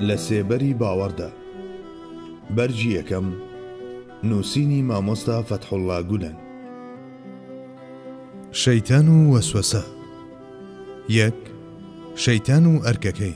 لە سێبەری باوەڕدا، بەرگی یەکەم، نووسینی مامۆستا فەتحوڵڵا گولەن. شەیتان و وەسوەسە. یەک، شەیتان و ئەرکەکەی.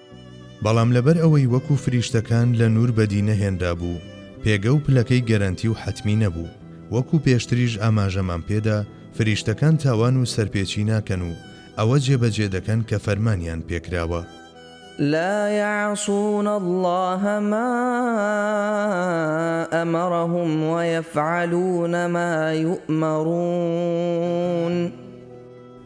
بەڵام لەبەر ئەوەی وەکو فریشتەکان لە نوور بەدی نەهێنرابوو، پێگە و پلەکەی گەرەنتی و حەتمی نەبوو. وەکو پێشتریش ئاماژەمان پێدا، فریشتەکان تاوان و سەرپێچی ناکەن و ئەوە جێبەجێ دەکەن کە فەرمانیان پێکراوە. لا یعصون اللە ما ئەمرهم ویفعلون ما یومرون.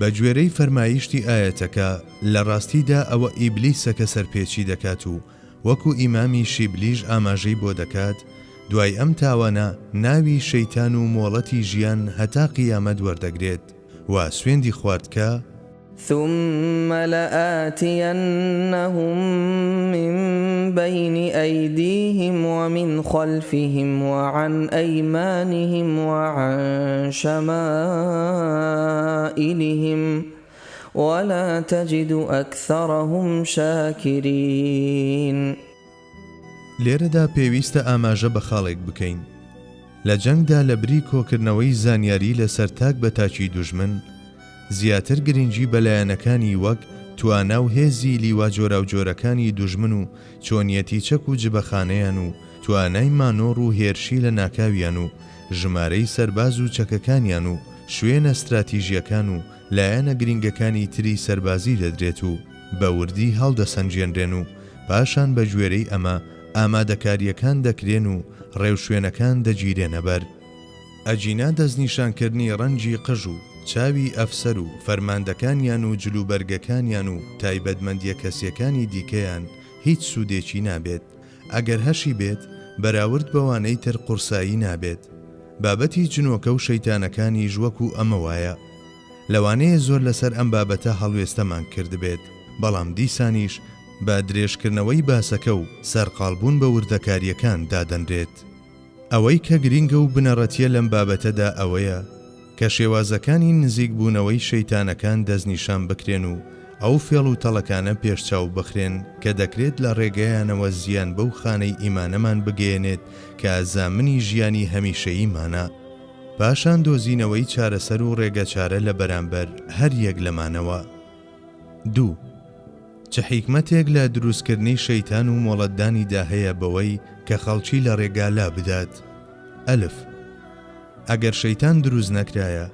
بەگوێرەی فەرمایشتی ئایەتەکە، لە ڕاستیدا ئەوە ئیبلیسە کە سەرپێچی دەکات و وەکو ئیمامی شیبلیش ئاماژەی بۆ دەکات، دوای ئەم تاوانە ناوی شەیتان و مۆڵەتی ژیان هەتا قیامەت وەردەگرێت و سوێندی خوارد کە، ثم لآتینهم من بین ایدیهم ومن خلفهم وعن ایمانهم وعن شمائلهم ولا تجد اکثرهم شاکرین. لێرەدا پێویستە ئاماژە بە خاڵێک بکەین، لە جەنگدا لە بری کۆکردنەوەی زانیاری لەسەر تاک بە تاکی دوژمن، زیاتر گرنگی بە لایەنەکانی وەک توانا و هێزی لیوا جۆراوجۆرەکانی دوژمن و چۆنیەتی چەک و جبەخانەیان و توانای مانۆڕ و هێرشی لە ناکاویان و ژمارەی سەرباز و چەکەکانیان و شوێنە ستراتیژییەکان و لایەنە گرینگەکانی تری سەربازی دەدرێت و بە وردی هەڵدەسەنگێنرێن و پاشان بە گوێرەی ئەمە ئامادەکارییەکان دەکرێن و ڕێوشوێنەکان دەگیرێنە بەر. ئەگینا دەستنیشانکردنی ڕەنگی قژ و چاوی ئەفسەر و فەرماندەکانیان و جلوبەرگەکانیان و تایبەتمەندییە کەسییەکانی دیکەیان هیچ سوودێکی نابێت ئەگەر هەشی بێت بەراورد بەوانەی تر قورسایی نابێت بابەتی جنۆکە و شەیتانەکانیش وەکو ئەمە وایە لەوانەیە زۆر لەسەر ئەم بابەتە هەڵوێستەمان کردبێت بەڵام دیسانیش بە درێژکردنەوەی باسەکە و سەرقاڵبوون بە وردەکاریەکان دادەنرێت. ئەوەی کە گرینگە و بنەڕەتییە لەم بابەتەدا ئەوەیە کە شێوازەکانی نزیکبوونەوەی شەیتانەکان دەستنیشان بکرێن و ئەو فێڵ و تەڵەکانە پێشچاو بخرێن کە دەکرێت لە ڕێگەیانەوە زیان بەو خانەی ئیمانەمان بگەیەنێت کە زامنی ژیانی هەمیشەییمانە پاشان دۆزینەوەی چارەسەر و ڕێگەچارە لە بەرامبەر هەر یەک لەمانەوە. دوو. چ حیکمەتێک لە دروستکردنی شەیتان و مۆڵەتدانی دا هەیە بەوەی کە خەڵکی لە ڕێگا لا بدات؟ ئەلف. ئەگەر شەیتان دروست نەکرایە،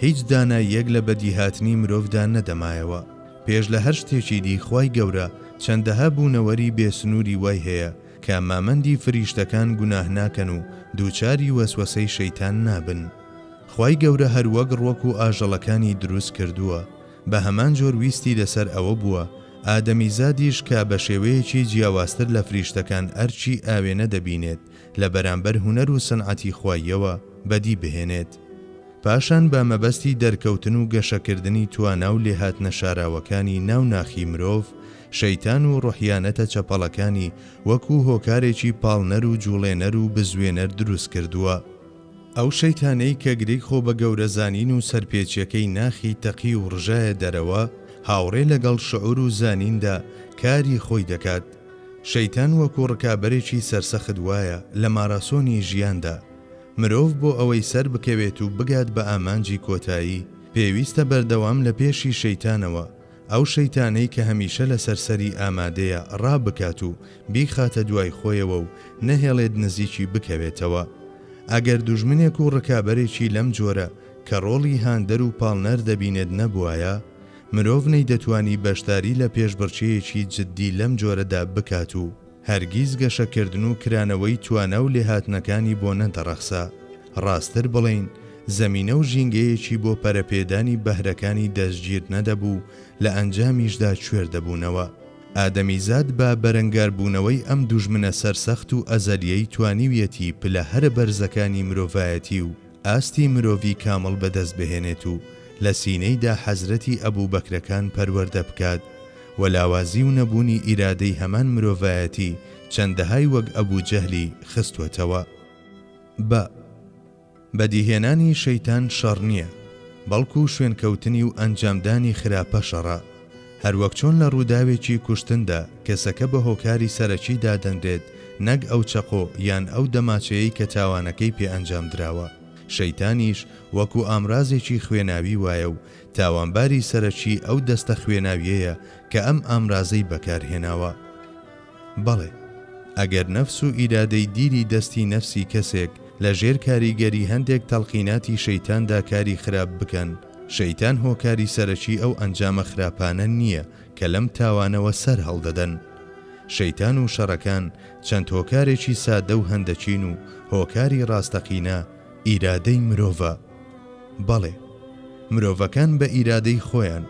هیچ داناییەک لە بەدیهاتنی مرۆڤدا نەدەمایەوە. پێش لە هەر شتێکی دی خوای گەورە چەندەها بوونەوەری بێ سنووری وای هەیە کە مامەندی فریشتەکان گوناه ناکەن و دووچاری وەسوەسەی شەیتان نابن. خوای گەورە هەر وەک ڕوەک و ئاژەڵەکانی دروست کردووە. بە هەمان جۆر ویستی لەسەر ئەوە بووە ئادەمیزادیش کە بە شێوەیەکی جیاوازتر لە فریشتەکان ئەرکی ئاوێنە دەبینێت لە بەرامبەر هونەر و سنعەتی خواییەوە بەدی بهێنێت پاشان بە مەبەستی دەرکەوتن و گەشەکردنی توانا و لێهاتنە شاراوەکانی ناو ناخی مرۆڤ شەیتان و ڕۆحیانەتە چەپەڵەکانی وەکوو هۆکارێکی پاڵنەر و جووڵێنەر و بزوێنەر دروست کردووە. ئەو شەیتانەی کە گرێی خۆ بە گەورە زانین و سەرپێچیەکەی ناخی تەقی و ڕژایە دەرەوە، هاوڕێ لەگەڵ شعور و زانیندا کاری خۆی دەکات. شەیتان وەکو ڕکابەرێکی سەرسەخت وایە لە ماراسۆنی ژیاندا. مرۆڤ بۆ ئەوەی سەر بکەوێت و بگات بە ئامانجی کۆتایی، پێویستە بەردەوام لە پێشی شەیتانەوە، ئەو شەیتانەی کە هەمیشە لەسەر سەری ئامادەیە ڕا بکات و بیخاتە دوای خۆیەوە و نەهێڵێت نزیکی بکەوێتەوە. ئەگەر دوژمنێک و ڕکابەرێکی لەم جۆرە کە ڕۆڵی هاندەر و پاڵنەر دەبینێت نەبوایە، مرۆڤ نەیدەتوانی بەشداری لە پێشبڕکێیەکی جددی لەم جۆرەدا بکات و، هەرگیز گەشەکردن و کرانەوەی توانا و لێهاتنەکانی بۆ نەدەڕەخسا، ڕاستتر بڵێین زەمینە و ژینگەیەکی بۆ پەرەپێدانی بەهرەکانی دەستگیر نەدەبوو، لە ئەنجامیشدا کوێر دەبوونەوە. ئادەمیزاد بە بەرەنگاربوونەوەی ئەم دوژمنە سەرسەخت و ئەزەلییەی توانیویەتی پلە هەرە بەرزەکانی مرۆڤایەتی و ئاستی مرۆڤی کامڵ بەدەست بهێنێت و لە سینەیدا حەزرەتی ئەبوبەکرەکان پەروەردە بکات و لاوازی و نەبوونی ئیرادەی هەمان مرۆڤایەتی چەندەهای وەک ئەبو جەهلی خستوەتەوە بە بەدیهێنانی شەیتان شەڕ نیە بەڵکو شوێنکەوتنی و ئەنجامدانی خراپە شەڕە. هەروەک چۆن لە ڕووداوێکی کوشتندا کەسەکە بە هۆکاری سەرەکی دادەنرێت نەک ئەو چەقۆ یان ئەو دەماچەیەی کە تاوانەکەی پێ ئەنجام دراوە، شەیتانیش وەکو ئامرازێکی خوێناوی وایە و تاوانباری سەرەکی ئەو دەستە خوێناویەیە کە ئەم ئامرازەی بەکار هێناوە. بەڵێ، ئەگەر نەفس و ئیرادەی دیری دەستی نەفسی کەسێک لە ژێر کاریگەری هەندێک تەڵقیناتی شەیتاندا کاری خراپ بکەن، شەیتان هۆکاری سەرەکی ئەو ئەنجامە خراپانە نییە کە لەم تاوانەوە سەرهەڵدەدەن. شەیتان و شەڕەکان چەند هۆکارێکی سادە و هەندەکین و هۆکاری ڕاستەقینە ئیرادەی مرۆڤە. بەڵێ، مرۆڤەکان بە ئیرادەی خۆیان،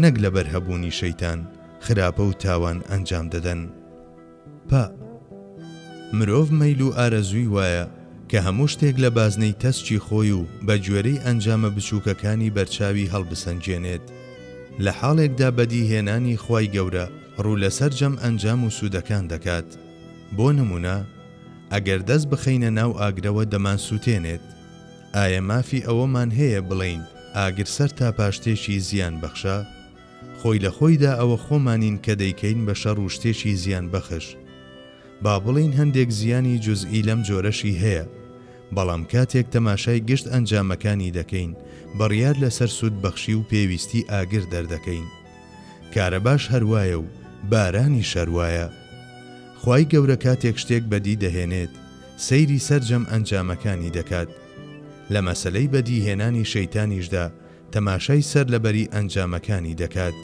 نەک لەبەر هەبوونی شەیتان، خراپە و تاوان ئەنجام دەدەن. پئ. مرۆڤ مەیل و ئارەزووی وایە کە هەموو شتێک لە بازنەی تەسکی خۆی و بە گوێرەی ئەنجامە بچووکەکانی بەرچاوی هەڵبسەنگێنێت. لە حاڵێکدا بەدی هێنانی خوای گەورە ڕوو لە سەرجەم ئەنجام و سوودەکان دەکات. بۆ نموونە، ئەگەر دەست بخەینە ناو ئاگرەوە دەمانسووتێنێت. ئایا مافی ئەوەمان هەیە بڵێین ئاگر سەرتاپا شتێکی زیان بەخشە؟ خۆی لە خۆیدا ئەوە خۆمانین کە دەیکەین بە شەڕ و شتێکی زیان بەخش. با بڵێین هەندێک زیانی جوزئی لەم جۆرەشی هەیە، بەڵام کاتێک تەماشای گشت ئەنجامەکانی دەکەین، بڕیار لەسەر سود بەخشی و پێویستی ئاگر دەردەکەین. کارەباش هەر وایە و بارانیش هەر وایە. خوای گەورە کاتێک شتێک بەدی دەهێنێت، سەیری سەرجەم ئەنجامەکانی دەکات. لە مەسەلەی بەدی هێنانی شەیتانیشدا، تەماشای سەر لەبەری ئەنجامەکانی دەکات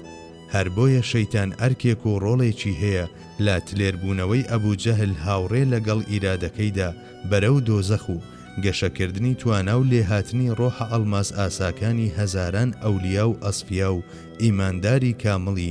هەر بۆیە شەیتان ئەرکێک و ڕۆڵێکی هەیە لە تلێر بوونەوەی ئەبو جەهل هاوڕێ لە گەڵ ئیرادەکەیدا بەرەو دۆزەخ و گەشە کردنی توانا و لێهاتنی ڕۆحە ئەڵماس ئاساکانی هەزاران ئەولیا و ئەسفیا و ئیمانداری کامڵی